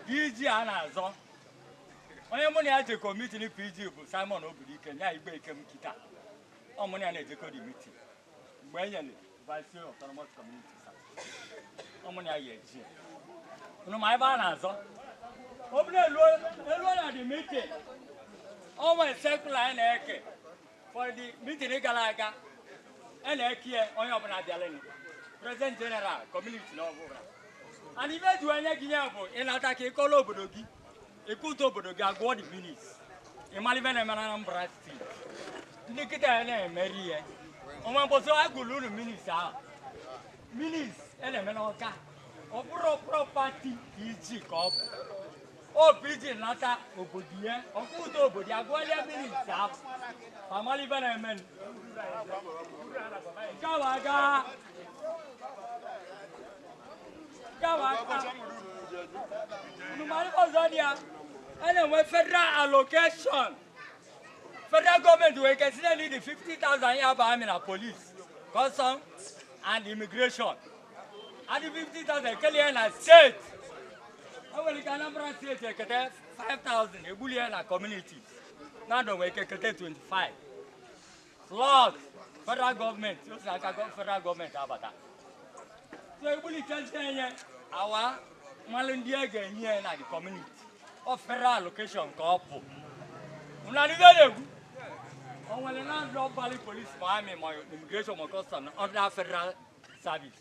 PG a na-azọ onye mụ na ya jekọ mitin PG bụ Simon Obidike ya Igwe Ikem kita ọ mụ na ya na-ejekọ the mitin mgbe e nyere vice autonomous community ọ mụ na ya ga-eje unu ma ive a na-azọ ọ bụrụ e lue na the mitin ọ nwere circular a na-eke For the mitin gara aga a na-ekie onye ọbụla bịalenụ prezident jeneral kọmuniti na ọbụla and ive e ji enye gị ya bụ ị nata ka ị kọọla obodo gị i kute obodo gị a gụọ the minutes ị mara ive na-eme na Anambra steeti ndị kita na-emeri ihe o nwe mbọsị a gụlụ unu minutes ahụ minutes a na-eme n'Ọka ọ bụrọ property PG ka ọ bụ Ọ PG nata obodo ya o kute obodo ya gụọlia minutes ahụ ma mara ive na-eme nke ahụ aga nke ahụ aga unu ma ihe ọzọ dị ya a na-enwe federal allocation federal gọọmenti nwee ike sị ya need 50,000 ya bụ amị na polis custom and immigration and the 50,000 e kele ya na steeti o nwere ike anambra steeti ekete 5,000 e bulu ya na kọmuniti Nando nwere ike kete 25 slot federal gọọmenti o si aka gọ- federal gọọmenti abata so e bulu kezie nye wa a malụ ndị a ga-enye ya na the community ọ federal allocation ka ọ bụ unu anụgo o nwere Nando balụ polisi ma amị ma immigration ma custom under federal service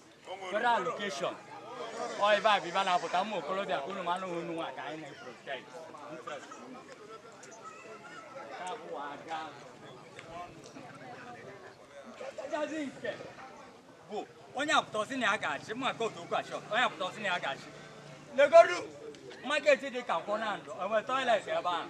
federal allocation ọ ive a bụ ive a na-apụta ụmụ okorobịa ka unu ma na ọ unu nwa ka anyị na-eprotect interest unu. Nke ahụ aga. Nke kachasị nke bụ onye apụta ọ sị na ya ga-achị mma ka otu okwu achọ onye apụta ọ sị na ya ga-achị legodu maketi dị ka Nkwọ Nando enwerọ toilet ebe ahụ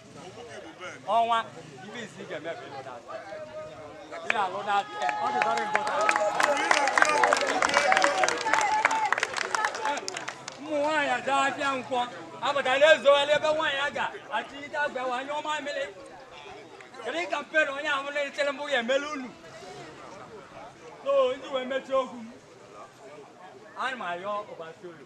ọnwa ndị isi ga-eme ka ịlụ na-atọ ihe alụ na-atọ ọ dị very important ụmụ nwaanyị ejee afịa Nkwọ abata na-ezogharị ebe nwaanyị a ga-achịlite akwa wa nyụọ mamịrị kedu campaign onye ahụ na-echere mbụ ya emela unu so n'iji wee mechie okwu m ana m ayọ ụbasi olu